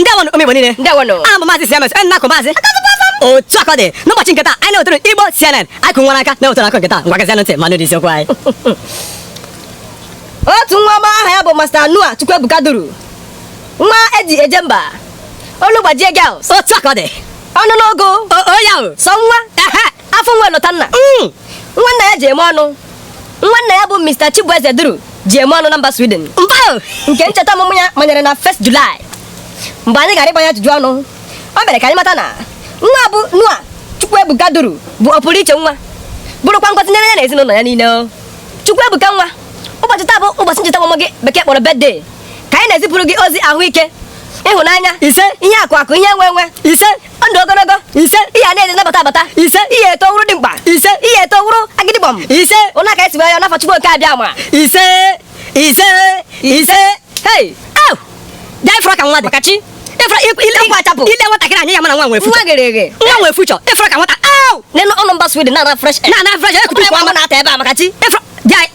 ndeewonụ ụmụ Igbo niile ndeewonụ aha m bụ maazị siemens onye na-akụ maazị otu akọ dị n'ụbọchị nke taa anyị na-ewetara igbo cnn anyị kụ nwere aka na-ewetara akụkọ nke taa ngwa geezienụ ntị ma nụ isiokwu anyị otu nwa ọma aha ya bụ Master Noah Chukwuebuka duru nwa eji eje mba olu gbajie girls otu akọ dị ọnụ n'ogo oyaụ sọ nwa afọ nwa Elotanna mm, nwa nna ya ji eme ọnụ nwa nna ya bụ Mr. Chibueze Duru ji eme ọnụ na mba Sweden nke ncheta ọmụmụ ya manyere na 1st July mgbe anyị gara ịgba nna ya ajụjụ ọnụ o mere ka anyị mata na nwa bụ Noah Chukwuebuka Duru bụ ọpụrụ iche nwa bụrụkwa ngọzi nyere ya na ezinụlọ ya niile Chukwuebuka nwa ụbọchị taa bụ ụbọchị ncheta ọmụmụ gị bekee kpọrọ birthday ka anyị na-ezipụrụ gị ozi ahụike ịhụnanya isee ihe akụ akụ ihe enwe enwe isee ndụ ogologo isee ihe a na-eri na-abata abata isee ị ya-eto wụrụ dimkpa isee ị ya-eto wụrụ agịdịgbọm isee ụna ka esiwe ya n'afọ chukwu oke abịama isee isee isee hei au bịa ị fụra ka nwa dị ka chi ị fụra ị le nwa achapụ ị le nwatakịrị anya ị ya-ama na nwa nwee future nwa ghere eghe nwa nwee future ị fụra ka nwata ahụ nenụ ọ nọ mba sweden na-ana fresh air na-ana fresh air kutukwa nwata ebe a maka chi ị fụra bịa